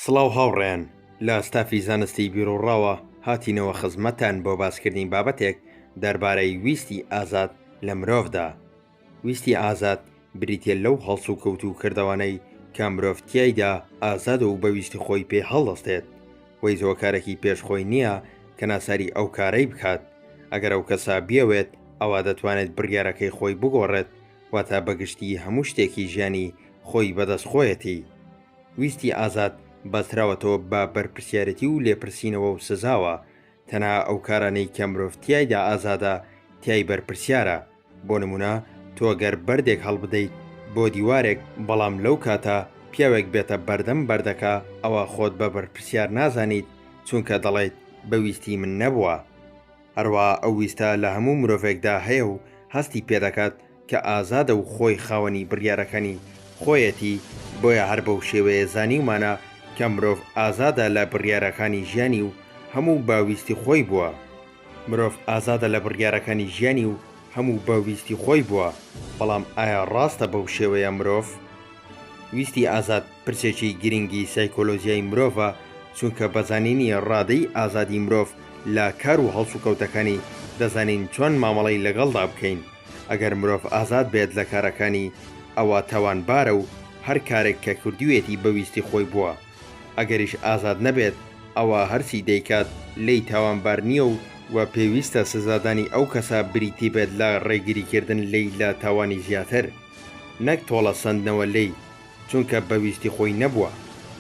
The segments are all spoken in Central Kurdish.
سڵاو هاوڕێیان، لە ستافی زانستیی بیروڕاوە هاتینەوە خزمەتتان بۆ باسکردنی بابەتێک دەربارەی ویستی ئازاد لە مرۆڤدا. ویستی ئازاد بریتییە لەو هەڵسوکەوت و کردەوانەی کە مرۆڤ تیایدا ئازادە و بە ویستی خۆی پێ هەڵدەستێت و هیچ هۆکارێکی پێش خۆی نییە کە ناچاری ئەو کارەی بکات، ئەگەر ئەو کەسە بیەوێت ئەوا دەتوانێت بڕیارەکەی خۆی بگۆڕێت، واتە بە گشتی هەموو شتێکی ژیانی خۆی بەدەست خۆیەتی. ویستی ئازاد بەستراوەتەوە بە بەرپرسیارێتی و لێپرسینەوە و سزاوە، تەنها ئەو کارانەی کە مرۆڤ تیایدا ئازادە تیای بەرپرسیارە، بۆ نمونە تۆ گەر بەردێک هەڵبدەیت بۆ دیوارێک بەڵام لەو کاتە پیاوێک بێتە بەردەم بەردەکە ئەوا خۆت بە بەرپرسیار نازانیت چونکە دەڵێیت بە ویستی من نەبوە هەروەها ئەو ویستە لە هەموو مرۆڤێکدا هەیە و هەستی پێدەکات کە ئازادە و خۆی خاوەنی بڕیارەکانی خۆیەتی، بۆیە هەر بەو شێوەیە زانیومانە کە مرۆڤ ئازادە لە بڕیارەکانی ژیانی و هەموو بە ویستی خۆی بووە. مرۆڤ ئازادە لە بڕیارەکانی ژیانی و هەموو بە ویستی خۆی بووە، بەڵام ئایا ڕاستە بەو شێوەیە مرۆڤ؟ ویستی ئازاد پرسێکی گرینگی سایکۆلۆژیای مرۆڤە، چونکە بە زانینی ڕادەی ئازادی مرۆڤ لە کار و هەڵسوکەوتەکانی، دەزانین چۆن مامەڵەی لەگەڵدا بکەین. ئەگەر مرۆڤ ئازاد بێت لە کارەکانی ئەوا تاوانبارە و هەر کارێک کە کردویەتی بە ویستی خۆی بووە، ئەگەریش ئازاد نەبێت ئەوا هەرچی دەیکات لێی تاوانبار نییە و وە پێویستە سزادانی ئەو کەسە بریتی بێت لە ڕێگریکردن لێی لە تاوانی زیاتر نەک تۆڵە سەندنەوە لێی چونکە بە ویستی خۆی نەبووە،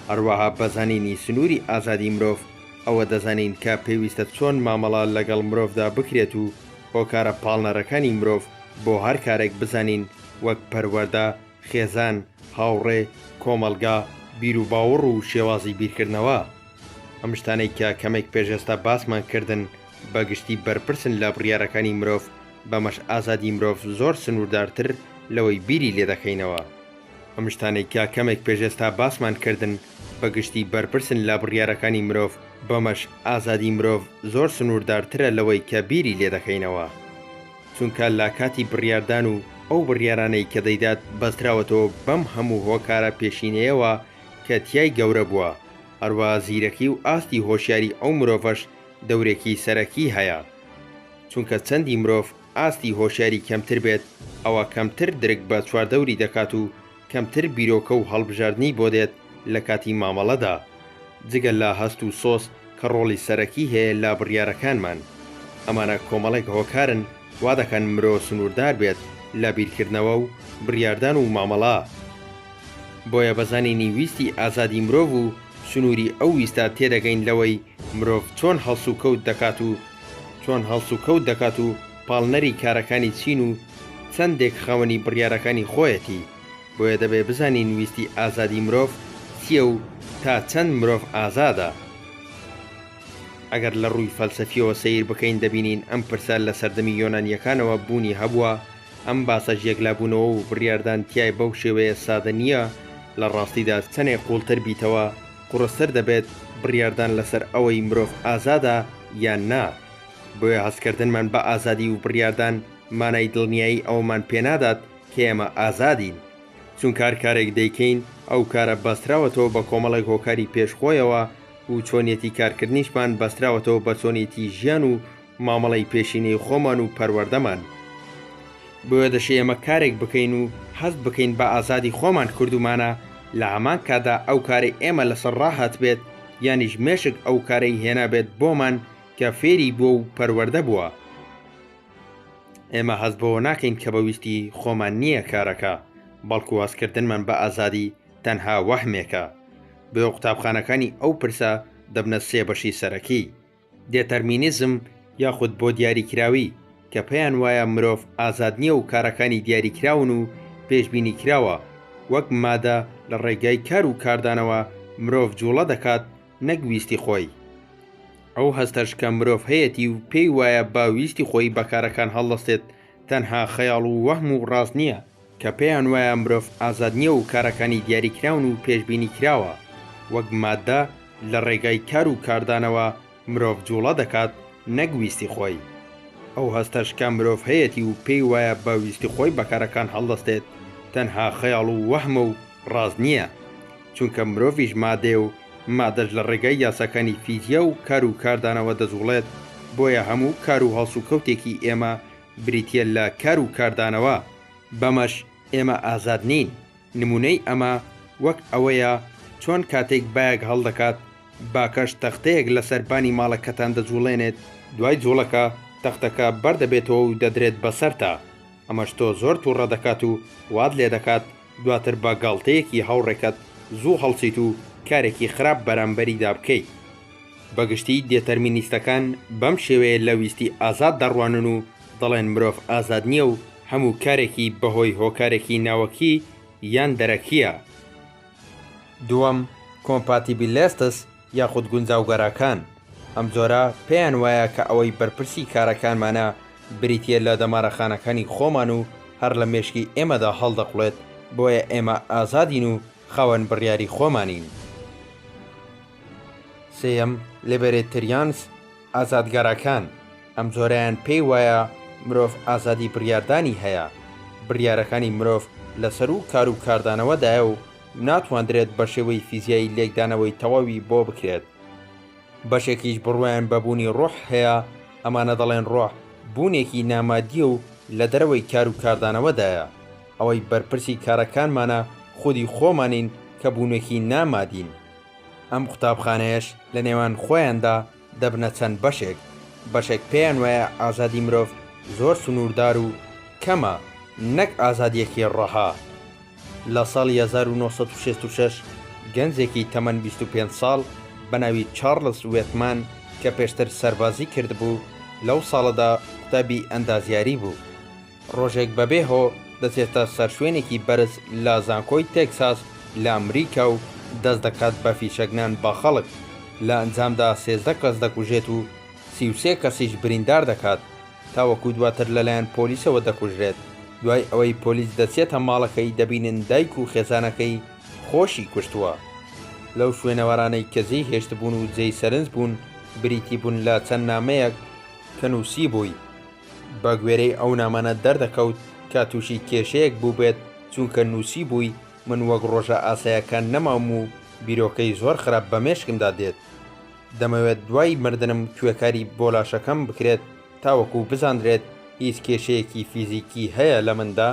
هەروەها بە زانینی سنوری ئازادی مرۆڤ ئەوە دەزانین کە پێویستە چۆن مامەڵە لەگەڵ مرۆڤدا بکرێت و هۆکارە پاڵنەرەکانی مرۆڤ بۆ هەر کارێک بزانین وەک پەروەردە، خێزان، هاوڕێ، کۆمەڵگا، بیروباوەڕ و شێوازی بیرکردنەوە. ئەم شتانەی کە کەمێک پێش ئێستا باسمان کردن بە گشتی بەرپرسن لە بڕیارەکانی مرۆڤ، بەمەش ئازادی مرۆڤ زۆر سنووردارتر لەوەی بیری لێدەکەینەوە. ئەم شتانەی کە کەمێک پێش ئێستا باسمان کردن، بەگشتی بەرپرسن لە بڕیارەکانی مرۆڤ، بەمەش ئازادی مرۆڤ زۆر سنووردارترە لەوەی کە بیری لێ دەکەینەوە. چونکە لە کاتی بڕیاردان و ئەو بڕیارانەی کە دەیدات بەستراوەتەوە بەم هەموو هۆکارە پێشینەیەوە کە تیای گەورە بووە، هەروەها زیرەکی و ئاستی هۆشیاری ئەو مرۆڤەش دەورێکی سەرەکی هەیە. چونکە چەندی مرۆڤ ئاستی هۆشیاری کەمتر بێت، ئەوە کەمتر درک بە چواردەوری دەکات و کەمتر بیرۆکە و هەڵبژاردنی بۆ دێت لە کاتی مامەڵەدا، جگە لە هەست و سۆز کە ڕۆڵی سەرەکی هەیە لە بڕیارەکانمان. ئەمانە کۆمەڵێک هۆکارن وا دەکەن مرۆ سنووردار بێت لە بیرکردنەوە و بڕیاردان و مامەڵە. بۆیە بە زانینی ویستی ئازادی مرۆڤ و سنووری ئەو ویستە تێدەگەین لەوەی مرۆڤ چۆن هەڵسوکەوت دەکات و چۆن هەڵسوکەوت دەکات و پاڵنەری کارەکانی چین و چەندێک خاوەنی بڕیارەکانی خۆیەتی، بۆیە دەبێ بزانین ویستی ئازادی مرۆڤ چییە و تا چەند مرۆڤ ئازادە؟ ئەگەر لە ڕووی فەلسەفییەوە سەیر بکەین دەبینین ئەم پرسە لە سەردەمی یۆنانییەکانەوە بوونی هەبووە، ئەم باسەش یەکلابوونەوە و بڕیاردان تیای بەو شێوەیە سادە نییە، لە ڕاستیدا چەنێک قووڵتر بیتەوە قوڕستر دەبێت بڕیاردان لەسەر ئەوەی مرۆڤ ئازادە یان نا. بۆیە هەستکردنمان بە ئازادی و بڕیاردان مانای دڵنیایی ئەوەمان پێنادات کە ئێمە ئازادین، چونکە هەر کارێک دەیکەین ئەو کارە بەستراوەتەوە بە کۆمەڵێک هۆکاری پێش خۆیەوە و چۆنیەتی کارکردنیشمان بەستراوەتەوە بە چۆنیەتی ژیان و مامەڵەی پێشینەی خۆمان و پەروەردەمان، بۆیە دەشێ ئێمە کارێک بکەین و هەست بکەین بە ئازادی خۆمان کردومانە لە هەمان کاتدا ئەو کارەی ئێمە لەسەر ڕاهاتبێت یانیش مێشک ئەو کارەی هێنابێت بۆمان کە فێری بووە و پەروەردە بووە. ئێمە هەست بەوە ناکەین کە بە ویستی خۆمان نییە کارەکە، بەڵکو هەستکردنمان بە ئازادی تەنها وەهمێکە. بۆیە قوتابخانەکانی ئەو پرسە دەبنە سێ بەشی سەرەکی، دێتەرمینیزم یاخود بۆ دیاریکراوی، کە پێیان وایە مرۆڤ ئازاد نییە و کارەکانی دیاریکراون و پێشبینیکراوە، وەک مادە لە ڕێگای کار و کاردانەوە مرۆڤ جووڵە دەکات، نەک ویستی خۆی. ئەو هەستەش کە مرۆڤ هەیەتی و پێی وایە با ویستی خۆی بە کارەکان هەڵدەستێت، تەنها خەیاڵ و وەهم و ڕاست نییە، کە پێیان وایە مرۆڤ ئازاد نییە و کارەکانی دیاریکراون و پێشبینی کراوە، وەک ماددە لە ڕێگای کار و کاردانەوە مرۆڤ جووڵە دەکات نەک ویستی خۆی. ئەو هەستەش کە مرۆڤ هەیەتی و پێی وایە با ویستی خۆی بە کارەکان هەڵدەستێت، تەنها خەیاڵ و وەهمە و ڕاست نییە، چونکە مرۆڤیش مادەیە و مادەش لە ڕێگای یاساکانی فیزیا و کار و کاردانەوە دەجوڵێت، بۆیە هەموو کار و هەڵسوکەوتێکی ئێمە بریتییە لە کار و کاردانەوە، بەمەش ئێمە ئازاد نین، نموونەی ئەمە وەک ئەوەیە چۆن کاتێک بایەک هەڵدەکات، باکەش تەختەیەک لەسەر بانی ماڵەکەتان دەجوڵێنێت، دوای جوڵەکە تەختەکە بەردەبێتەوە و دەدرێت بەسەرتا، ئەمەش تۆ زۆر توڕە دەکات و وات لێدەکات دواتر بە گاڵتەیەکی هاوڕێکەت زوو هەڵسیت و کارێکی خراپ بەرامبەریدا بکەیت. بە گشتی دێتەرمینیستەکان بەم شێوەیە لە ویستی ئازاد دەڕوانن و دەڵێن مرۆڤ ئازاد نییە و هەموو کارێکی بە هۆی هۆکارێکی ناوەکی یان دەرەکییە. دووەم، کۆمپاتیبیلێستس، یاخود گونجاوگەراکان ئەم جۆرە پێیان وایە کە ئەوەی بەرپرسی کارەکانمانە بریتییە لە دەمارەخانەکانی خۆمان و هەر لە مێشکی ئێمەدا هەڵدەقوڵێت، بۆیە ئێمە ئازادین و خاوەن بڕیاری خۆمانین. سێیەم، لیبێرێتریانس، ئازادگەڕەکان ئەم جۆرەیان پێی وایە مرۆڤ ئازادی بڕیاردانی هەیە، بڕیارەکانی مرۆڤ لەسەروو کار و کاردانەوەدایە و ناتواندرێت بە شێوەی فیزیایی لێکدانەوەی تەواوی بۆ بکرێت. بەشێکیش بڕوایان بە بوونی ڕۆح هەیە، ئەمانە دەڵێن ڕۆح بوونێکی نامادییە و لە دەرەوەی کار و کاردانەوەدایە، ئەوەی بەرپرسی کارەکانمانە خودی خۆمانین کە بوونێکی نامادین. ئەم قوتابخانەیەش لە نێوان خۆیاندا دەبنە چەند بەشێک، بەشێک پێیان وایە ئازادی مرۆڤ زۆر سنووردار و کەمە، نەک ئازادییەکی ڕەها. لە ساڵی هەزار و نۆ سەد و شەست و شەش گەنجێکی تەمەن بیست و پێنج ساڵ بە ناوی چارڵز وێتمان کە پێشتر سەربازی کردبوو، لەو ساڵەدا قوتابی ئەندازیاری بوو. ڕۆژێک بەبێ هۆ دەچێتە سەر شوێنێکی بەرز لە زانکۆی تێکساس لە ئەمریکا و دەست دەکات بە فیشەکنان بە خەڵک، لە ئەنجامدا سێزدە کەس دەکوژێت و سی و سێ کەسیش بریندار دەکات، تاوەکو دواتر لەلایەن پۆلیسەوە دەکوژرێت، دوای ئەوەی پۆلیس دەچێتە ماڵەکەی دەبینن دایک و خێزانەکەی خۆشی کوشتووە. لەو شوێنەوارانەی کە جێی هێشتبوون و جێی سەرنج بوون بریتی بوون لە چەند نامەیەک کە نووسیبووی، بە گوێرەی ئەو نامانە دەردەکەوت کە تووشی کێشەیەک بووبێت، چونکە نووسیبووی، من وەک ڕۆژە ئاسایەکان نەماوم و بیرۆکەی زۆر خراپ بە مێشکمدا دێت. دەمەوێت دوای مردنم کوێکاری بۆ لاشەکەم بکرێت تاوەکو بزاندرێت هیچ کێشەیەکی فیزیکی هەیە لە مندا؟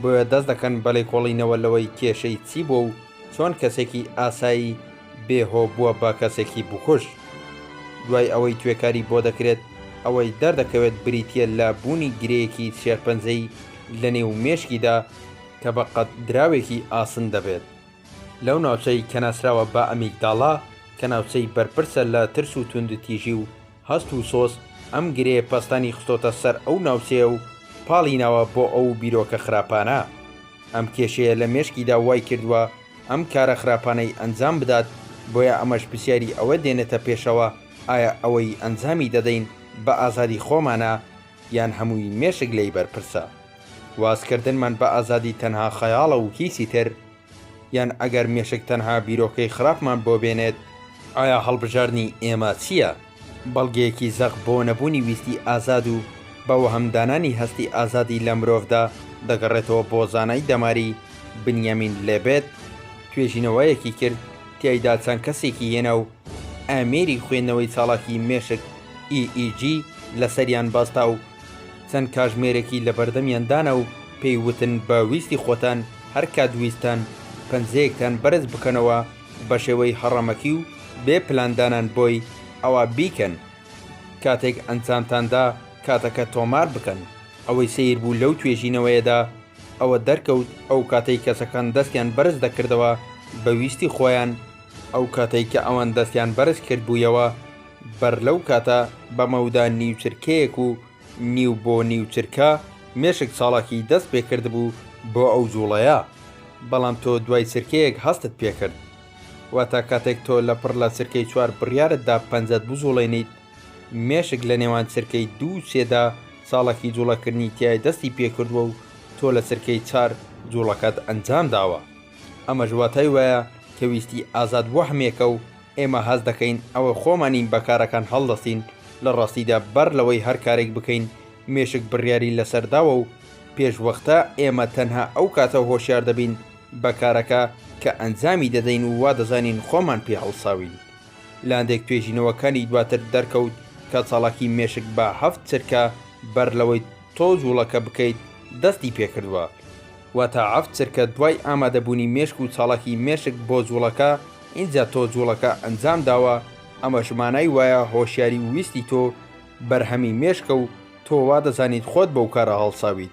بۆیە دەست دەکەن بە لێکۆڵینەوە لەوەی کێشەی چی بووە و چۆن کەسێکی ئاسایی بێ هۆ بووە بە کەسێکی بکوژ. دوای ئەوەی توێکاری بۆ دەکرێت، ئەوەی دەردەکەوێت بریتییە لە بوونی گرێیەکی شێرپەنجەی لە نێو مێشکیدا کە بە قەد دراوێکی ئاسن دەبێت لەو ناوچەی کە ناسراوە بە ئەمیگداڵا کە ناوچەی بەرپرسە لە ترس و توندوتیژی و هەست و سۆز ئەم گرێ پەستانی خستۆتە سەر ئەو ناوچەیە و پاڵی ناوە بۆ ئەو بیرۆکە خراپانە. ئەم کێشەیە لە مێشکیدا وای کردووە ئەم کارە خراپانەی ئەنجام بدات، بۆیە ئەمەش پرسیاری ئەوە دێنێتە پێشەوە ئایا ئەوەی ئەنجامی دەدەین بە ئازادی خۆمانە یان هەمووی مێشک لێی بەرپرسە؟ وازکردنمان بە ئازادی تەنها خەیاڵە و هیچی تر؟ یان ئەگەر مێشک تەنها بیرۆکەی خراپمان بۆ بێنێت، ئایا هەڵبژاردنی ئێمە چییە؟ بەڵگەیەکی زەق بۆ نەبوونی ویستی ئازاد و بە وەهمدانانی هەستی ئازادی لە مرۆڤدا دەگەڕێتەوە بۆ زانای دەماری بنیامین لێبێت، توێژینەوەیەکی کرد تیایدا چەند کەسێکی هێنا و ئامێری خوێندنەوەی چاڵاکی مێشک، EEG، لەسەریان بەستا و چەند کاژمێرێکی لە بەردەمیان دانا و پێی وتن بە ویستی خۆتان هەر کات ویستتان پەنجەیەکتان بەرز بکەنەوە بە شێوەی هەڕەمەکی و بێ پلاندانان بۆی ئەوا بیکەن کاتێک ئەنجامتان دا کاتەکە تۆمار بکەن ئەوەی سەیر بوو لەو توێژینەوەیەدا ئەوە دەرکەوت ئەو کاتەی کەسەکان دەستیان بەرز دەکردەوە بە ویستی خۆیان ئەو کاتەی کە ئەوان دەستیان بەرز کردبوویەوە بەر لەو کاتە بە مەودا نیو چرکەیەک و نیو بۆ نیو چرکە مێشک چاڵاکی دەست پێ کردبوو بۆ ئەو جووڵەیە، بەڵام تۆ دوای چرکەیەک هەستت پێ کرد. واتە کاتێک تۆ لە پڕ لە چرکەی چوار بڕیارت دا پەنجەت بجووڵێنیت، مێشک لە نێوان چرکەی دوو و سێ دا چاڵاکی جووڵەکردنی تای دەستی پێ کردووە و تۆ لە چرکەی چار جووڵەکەت ئەنجام داوە. ئەمەش واتای وایە کە ویستی ئازاد وەهمێکە و ئێمە هەست دەکەین ئەوە خۆمانین بە کارەکان هەڵدەستین، لە ڕاستیدا بەر لەوەی هەر کارێک بکەین مێشک بڕیاری لەسەر داوە و پێشوەختە، ئێمە تەنها ئەو کاتە هۆشیار دەبین بە کارەکە کە ئەنجامی دەدەین و وا دەزانین خۆمان پێ هەڵساوین. لاندێک توێژینەوەکانی دواتر دەرکەوت کە چالاکی مێشک بە هەفت چرکە بەر لەوەی تۆ جووڵەکە بکەیت دەستی پێ کردووە. واتە عەفت چرکە دوای ئامادەبوونی مێشک و چاڵاکی مێشک بۆ جوڵەکە ئینجا تۆ جوڵەکە ئەنجام داوە ئەمەش مانای وایە هۆشیاری و ویستی تۆ بەرهەمی مێشکە و تۆ وا دەزانیت خۆت بەو کارە هەڵساویت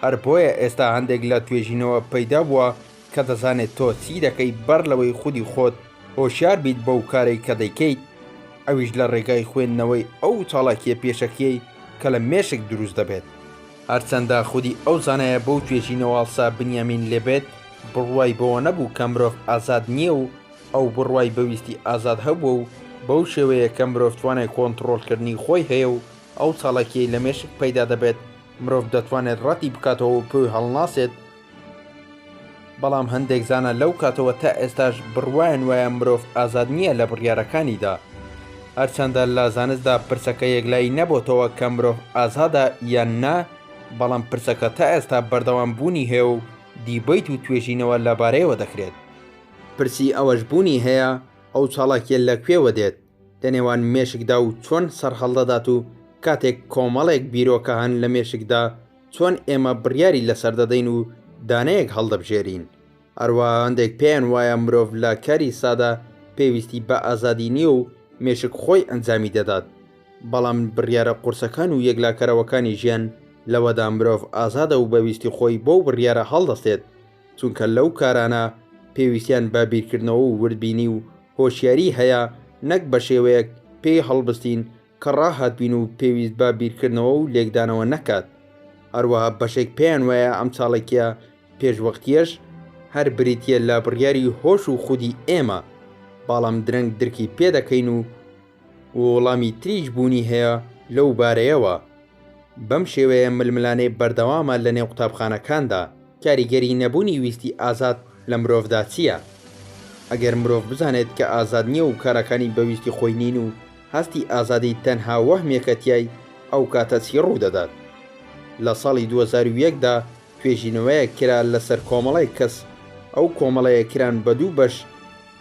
هەر بۆیە ئێستا هەندێک لە توێژینەوە پەیدا بووە کە دەزانێت تۆ چی دەکەی بەر لەوەی خودی خۆت هۆشیار بیت بەو کارەی کە دەیکەیت ئەویش لە ڕێگای خوێندنەوەی ئەو چاڵاکیە پێشەکیەی کە لە مێشک دروست دەبێت. هەرچەندە خودی ئەو زانایە بەو توێژینەوەاڵسا بنیامین لێبێت بڕوای بەوە نەبوو کە مرۆڤ ئازاد نییە و ئەو بڕوای بە ویستی ئازاد هەبووە و بەو شێوەیە کە مرۆڤ توانای کۆنتڕۆڵکردنی خۆی هەیە و ئەو چالاکییەی لە مێشک پەیدا دەبێت مرۆڤ دەتوانێت ڕەتی بکاتەوە و پێی هەڵناسێت بەڵام هەندێک زانا لەو کاتەوە تا ئێستاش بڕوایان وایە مرۆڤ ئازاد نییە لە بڕیارەکانیدا. هەرچەندە لە زانستدا پرسەکە یەکلایی نەبۆتەوە کە مرۆڤ ئازادە یان نا، بەڵام پرسەکە تا ئێستا بەردەوام بوونی هەیە و دیبەیت و توێژینەوە لەبارەیەوە دەکرێت. پرسی ئەوەش بوونی هەیە ئەو چاڵاکییە لە کوێوە دێت؟ لە نێوان مێشکدا و چۆن سەرهەڵدەدات و کاتێک کۆمەڵێک بیرۆکە هەن لە مێشکدا چۆن ئێمە بڕیاری لەسەر دەدەین و دانەیەک هەڵدەبژێرین. هەروەها هەندێک پێیان وایە مرۆڤ لە کاری سادا پێویستی بە ئازادی نییە و مێشک خۆی ئەنجامی دەدات، بەڵام بڕیارە قورسەکان و یەکلاکەرەوەکانی ژیان لەوەدا مرۆڤ ئازادە و بە ویستی خۆی بەو بڕیارە هەڵدەستێت، چونکە لەو کارانە پێویستیان بە بیرکردنەوە و وردبینی و هۆشیاری هەیە نەک بە شێوەیەک پێی هەڵبستین کە ڕاهاتبین و پێویست بە بیرکردنەوە و لێکدانەوە نەکات. هەروەها بەشێک پێیان وایە ئەم چاڵەکییە پێشوەختییەش هەر بریتییە لە بڕیاری هۆش و خودی ئێمە، بەاڵم درەنگ درکی پێ دەکەین و، ووڵامی تریش بوونی هەیە لەو بارەیەوە. بەم شێوەیە ململانێ بەردەوامە لە نێو قوتابخانەکاندا، کاریگەری نەبوونی ویستی ئازاد لە مرۆڤدا چییە؟ ئەگەر مرۆڤ بزانێت کە ئازاد نییە و کارەکانی بە ویستی خۆی نین و هەستی ئازادی تەنها وەهمێکە تیای، ئەو کاتە چی ڕوودەدات؟ لە ساڵی دوو هەزار و یەک دا توێژینەوەیەک کرا لەسەر کۆمەڵێک کەس، ئەو کۆمەڵەیە کران بە دوو بەش،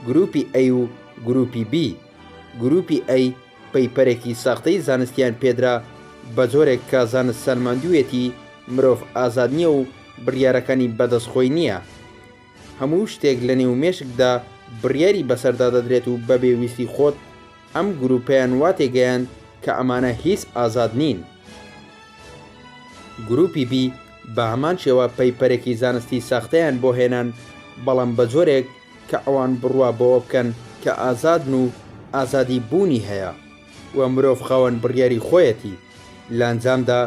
گروپی ئەی و گروپی بی، گروپی ئەی پەیپەرێکی ساختەی زانستیان پێدرا بەجۆرێک کە زانست سەلماندویەتی مرۆڤ ئازاد نیە و بریارەکانی بەدەست خۆی نیە هەموو شتێک لەنێو مێشکدا بریاری بەسەردا دەدرێت و بەبێ ویستی خۆت ئەم گروپەیان وا تێگەیاند کە ئەمانە هیچ ئازاد نین. گروپی بی بەهەمان شێوە پەیپەرێکی زانستی ساختەیان بۆ هێنان بەڵام بەجۆرێک کە ئەوان بڕوا بەوە بکەن کە ئازادن و ئازادی بوونی هەیە و مرۆڤ خاوەن بڕیاری خۆیەتی، لە ئەنجامدا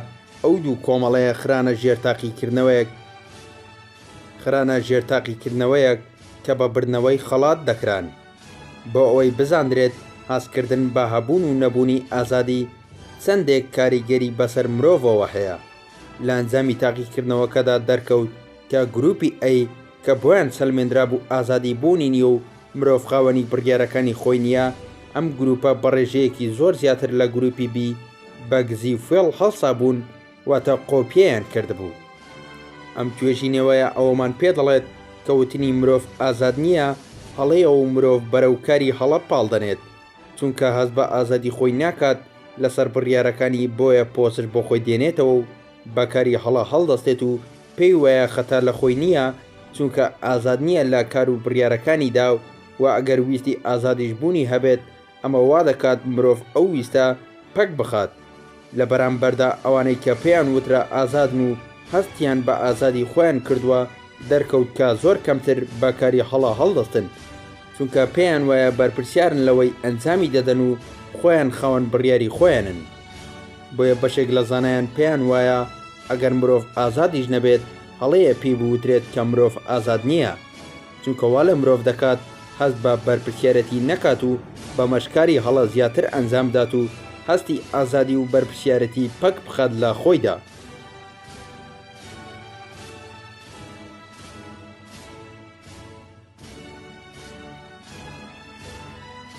ئەو دوو کۆمەڵەیە خرانە ژێر تاقیکردنەوەیەک خرانە ژێر تاقیکردنەوەیەک کە بە بردنەوەی خەڵات دەکران بۆ ئەوەی بزاندرێت هەستکردن بە هەبوون و نەبوونی ئازادی چەندێک کاریگەری بەسەر مرۆڤەوە هەیە لە ئەنجامی تاقیکردنەوەکەدا دەرکەوت کە گروپی ئەی کە بۆیان سەلمێندرابوو ئازادی بوونی نییە و مرۆڤ خاوەنی بڕیارەکانی خۆی نییە، ئەم گرووپە بە ڕێژەیەکی زۆر زیاتر لە گرووپی بی بە گزی و فێڵ هەڵسابوون، واتە قۆپییان کردبوو. ئەم توێژینەوەیە ئەوەمان پێ دەڵێت کە وتنی مرۆڤ ئازاد نییە هەڵەیە و مرۆڤ بەرەو کاری هەڵە پاڵ دەنێت، چونکە هەست بە ئازادی خۆی ناکات لەسەر بڕیارەکانی بۆیە پۆسش بۆ خۆی دێنێتەوە و بە کاری هەڵە هەڵدەستێت و پێی وایە خەتا لە خۆی نییە، چونکە ئازاد نییە لە کار و بڕیارەکانیدا و ئەگەر ویستی ئازادیش بوونی هەبێت، ئەمە وا دەکات مرۆڤ ئەو ویستە پەک بخات. لە بەرامبەردا ئەوانەی کە پێیان وترا ئازادن و هەستیان بە ئازادی خۆیان کردووە، دەرکەوت کە زۆر کەمتر بە کاری هەڵە هەڵدەستن، چونکە پێیان وایە بەرپرسیارن لەوەی ئەنجامی دەدەن و خۆیان خاوەن بڕیاری خۆیانن. بۆیە بەشێک لە زانایان پێیان وایە ئەگەر مرۆڤ ئازادیش نەبێت هەڵەیە پێی بوترێت کە مرۆڤ ئازاد نییە چونکە وا لە مرۆڤ دەکات هەست بە بەرپرسیارەتی نەکات و بەمەش کاری هەڵە زیاتر ئەنجام بدات و هەستی ئازادی و بەرپرسیارەتی پەک بخات لە خۆیدا.